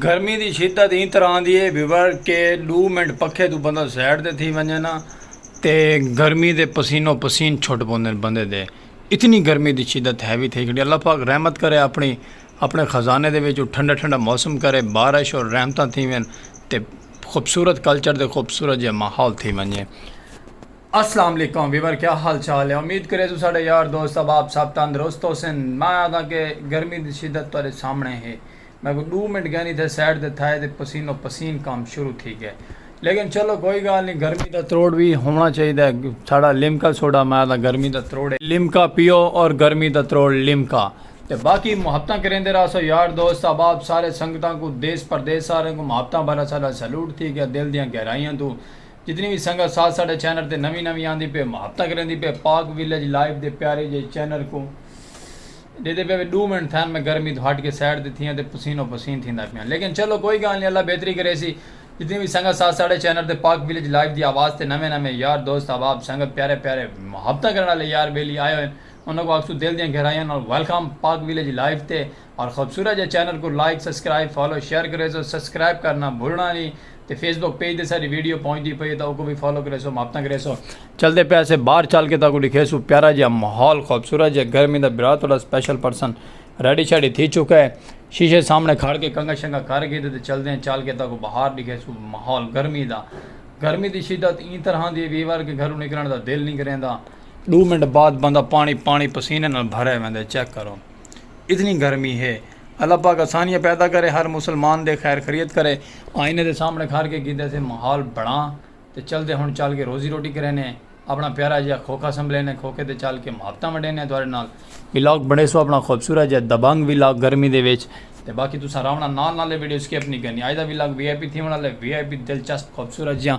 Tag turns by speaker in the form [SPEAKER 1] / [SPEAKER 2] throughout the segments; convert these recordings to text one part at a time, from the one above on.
[SPEAKER 1] گرمی دی شدت ایں طرح آندی ہے بھیوڑ کہ ڈو منٹ پکھے توں بندہ سائیڈ تے تھی ونجے نا تے گرمی دے پسینو پسین چھٹ پوندے نے بندے دے اتنی گرمی دی شدت ہیوی تھئی کھڑی اللہ پاک رحمت کرے اپنی اپنے خزانے دے وچوں ٹھنڈا ٹھنڈا موسم کرے بارش اور رحمتاں تھیون تے خوبصورت کلچر دے خوبصورت جے ماحول تھی ونجے۔ اسلام علیکم ویور کیا حال چال ہے امید کرے سوں ساڈے یار دوست احباب سب تندرست ہوسن میں آکھاں کہ گرمی دی شدت تہاڈے سامنے ہے میں کوئی ڈو منٹ گینی تھے سائیڈ تے تھائے تے پسینو پسین کم شروع تھی گئے لیکن چلو کوئی گال نی گرمی دا تروڑ وی ہونا چاہیدا ہے ساڈا لیمکا سوڈا میں آکھاں گرمی دا تروڑ ہے لیمکا پیو اور گرمی دا تروڑ لیمکا تے باقی محبتاں کریندے راہسو یار دوست احباب سارے سنگتاں کوں دیس پردیس سارے کوں محبتاں بھرا ساڈا سلوٹ تھی گیا دل دیاں گہرائیاں توں جتنی وی سنگت ساتھ ساڈے چینل تے نویں نویں آندی پے مہب تک ریندی پے پاک ویلیج لائیو دے پیارے جے چینل کوں ڈیدے پے وے ڈو منٹ تھین میں گرمی تو ہٹ کے سائیڈ تے تھیاں تے پسین و پسین تھیندا پیاں لیکن چلو کوئی گال نی اللہ بہتری کریسی جتنی وی سنگت ساتھ ساڈے چینل تے پاک ویلیج لائیو دی آواز تے نویں نویں یار دوست احباب سنگت پیارے پیارے مہبتاں کرن آلے یار بیلی آئے ہوئے انہاں کوں آکھسوں دل دیاں گہرائیاں نال ویلکم پاک ویلیج لائیو تے اور خوبصورت جے چینل کوں لائک سبسکرائب فالو شیئر کریسو سبسکرائب کرنا بھلنا نی تے فیس بک پیج تے ساڈی ویڈیو پہنچدی پئی ہے تاں اوکوں وی فالو کریسو محبتاں کریسو چلدے پئے اسے باہر چل کے تاکوں ڈکھیسو پیارا جیا ماحول خوبصورت جے گرمی دا برا تہاڈا سپیشل پرسن ریڈی شیڈی تھی چکا ہے شیشے سامنے کھڑ کے کنگا شنگا کر کے تے چلدے ہیں چل کے تاکوں باہر ڈکھیسو ماحول گرمی دا گرمی دی شدت ایں طرح دی ویور کے گھروں نکلن دا دل نہیں کریندا دو منٹ بعد بندہ پانی پانی پسینے نال بھرے ویندے چیک کرو اتنی گرمی ہے اللہ پاک آسانیاں پیدا کرے ہر مسلمان دے خیر خیریت کرے آئینے دے سامنے کھار کے کیتے سے محال بڑھاں تے چلتے ہن چل کے روزی روٹی کرینے اپنا پیارا جیہا کھوکھا سنبھلینے کھوکھے تے چل کے محبتاں ونڈینے تہاڈے نال ولاگ بنڑے سو اپنا خوبصورت جیہا دبنگ ولاگ گرمی دے وچ تے باقی تساں راونا نال نال اے ویڈیو سکپ نی کرنی آج دا ولاگ وی آئی پی تھیون آلا ہے وی آئی پی دلچسپ خوبصورت جیہاں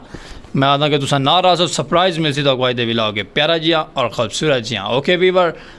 [SPEAKER 1] میں آکھداں کہ تساں نال راہسو سرپرائز ملسی تہاکوں آج دے ولاگ اچ پیارا جیہاں اور خوبصورت جیہاں اوکے ویور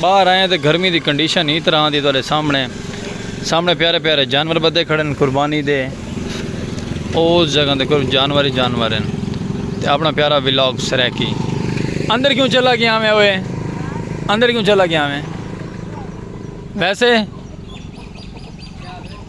[SPEAKER 1] باہر آئیں تے گرمی دی کنڈیشن ایں طرح دی تہاڈے سامنے سامنے پیارے پیارے جانور بدے کھڑے ہن قربانی دے اوز جگہ دے کول جانور ہی جانور ہن تے اپنا پیارا ولاگ سرائیکی اندر کیوں چلا گیا میں اوئے اندر کیوں چلا گیا میں ویسے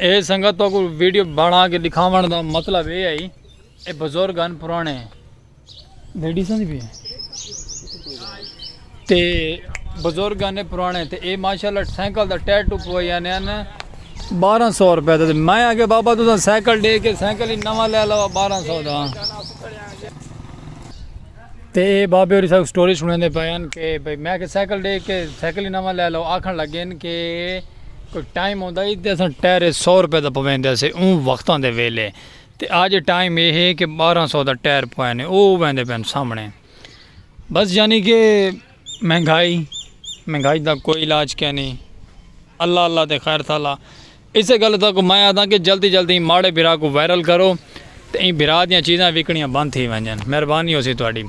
[SPEAKER 1] اے سنگت کو ویڈیو بنا کے دکھاون دا مطلب اے ہے اے بزرگ ہن پرانے لیڈیز ہن بھی تے بزرگ ہن پرانے تے اے ماشاءاللہ سائیکل دا ٹائر ٹوپ ہوئے یعنی ان 1200 روپے تے میں اگے بابا تساں سائیکل دے کے سائیکل ہی نواں لے لو 1200 دا تے اے بابے ہوری ساکوں سٹوری سنڑیندے پئے ہن کہ بھئی میں آکھیا سائیکل ڈے کہ سائیکل ہی نواں لے لو آکھن لگے ہن کہ کوئی ٹائم ہوندا ہی تے اساں ٹائرے سو روپے دا پویندے سے اوں وختاں دے ویلے تے اج ٹائم اے ہے کہ بارہ سو دا ٹائر پوینے او ویندے پئے ہن سامنے بس یعنی کہ مہنگائی مہنگائی دا کوئی علاج کینی اللہ اللہ تے خیر تھالا اسے گل تک میں آدھا کہ جلدی جلدی ماڑے بھرا کو وائرل کرو تے این بھرا دیاں چیزاں وکنیاں بند تھی ونجن مہربانی ہو سی تہاڈی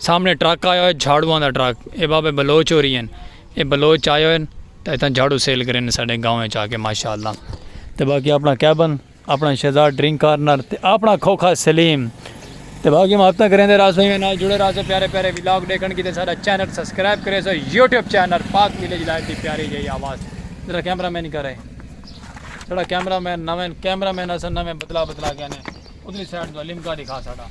[SPEAKER 1] سامنے ٹرک آیا ہوئے جھاڑواں دا ٹرک اے بابے بلوچ ہو رہی ہیں اے بلوچ آئے ہوئے تے اتنا جھاڑو سیل کریں ساڈے گاؤں چا کے ماشاءاللہ تے باقی اپنا کیبن اپݨا شہزاد ڈرنک کارنر تے اپݨا کھوکھا سلیم تے باقی محبتاں کریندے راس ہوئیں نال جڑے راس ہو پیارے پیارے ولاگ ڈیکھن کیتے ساڈا چینل سبسکرائب کرے سو YouTube channel Pak village life دی پیاری جئی آواز ذرا کیمرہ مین کرے ساڈا کیمرہ مین نویں کیمرہ مین اساں نویں بدلا بدلا گئے نے ادھری سائیڈ تو لیمکا دکھا ساڈا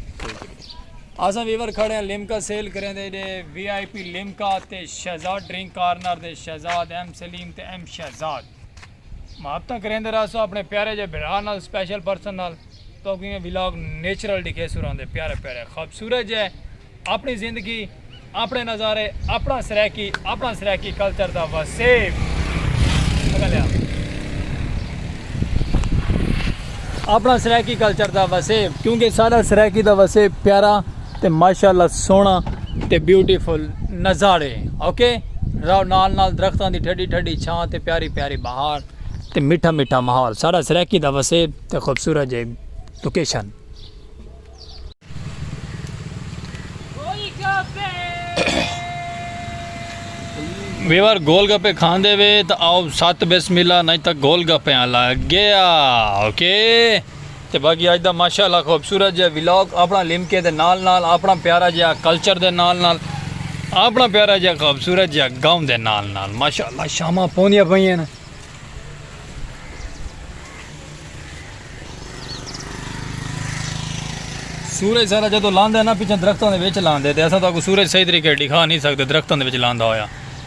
[SPEAKER 1] اساں ویور کھڑے ہیں لیمکا سیل کریندے دے وی آئی پی لیمکا تے شہزاد ڈرنک کارنر دے شہزاد ایم سلیم تے ایم شہزاد محبتاں کریندے رہسو اپنے پیارے جے بھرا نال سپیشل پرسن نال توکوں ایہ ولاگ نیچرل ڈکھیسوں راندے پیارے پیارے خوبصورت جے اپنی زندگی اپنے نظارے اپنا سرائیکی اپنا سرائیکی کلچر دا وسیب اپنا سرائیکی کلچر دا وسیب کیونکہ سارا سرائیکی دا وسیب پیارا تے ماشاءاللہ سونا تے بیوٹیفل نظارے اوکے راو نال نال درختاں دی ٹھڈی ٹھڈی چھاں تے پیاری پیاری بہار تے میٹھا میٹھا ماحول سارا سرائیکی دا وسیب تے خوبصورت جے لوکیشن ویور گول گپے کھان دے وے تا آو سات بسم اللہ نہیں تا گول گپے آلا گیا اوکے okay. تے باقی اج دا ماشاءاللہ خوبصورت جیہا ولاگ اپنا لمکے دے نال نال اپنا پیارا جیہا کلچر دے نال نال اپنا پیارا جیہا خوبصورت جیہا گاؤں دے نال نال ماشاءاللہ شاماں پوندیاں پئیاں نا۔ سورج سارا جدو لاندے نا پچھاں درختاں دے وچ لاندے تے اساں تہاکوں سورج صحیح طریقے ڈکھا نہیں سکدے درختاں دے وچ لاندا ہویا۔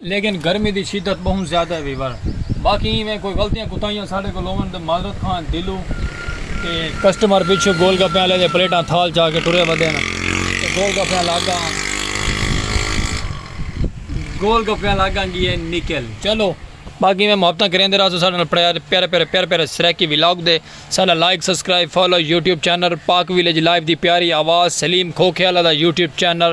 [SPEAKER 1] لیکن گرمی دی شدت بہوں زیادہ ہے ویور باقی ایں ویں کوئی غلطیاں کوتاہیاں ساڈے کول ہوون تے معذرت خواہ دلوں تے کسٹمر پچھوں گول گپے والے دے پلیٹاں تھال چا کے ٹرے ودے نا تے گول گپے والا اگاں گول گپے والا اگاں گیے نکل چلو باقی میں محبتاں کریندے رہسو ساڈے نال پیارے پیارے پیارے پیارے سرائیکی ولاگ دے ساڈا like subscribe follow YouTube channel Pak village live دی پیاری آواز سلیم کھوکھے والا دا یوٹیوب چینل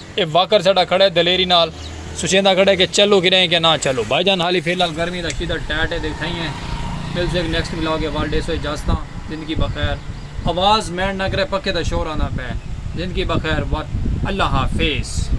[SPEAKER 1] اے واکر ساڈا کھڑا ہے دلیری نال سوچیندا کھڑا ہے کہ چلو کھڑے ہیں کہ نہ چلو بھائی جان حالی فی الحال گرمی دا شدت ٹیٹ ہے دیکھائی ہیں ملتے ہیں نیکسٹ ولاگ ہے وال ڈیسو اجازتاں زندگی بخیر آواز مینڈ نہ کرے پکھے دا شور آندا پے زندگی بخیر وات اللہ حافظ.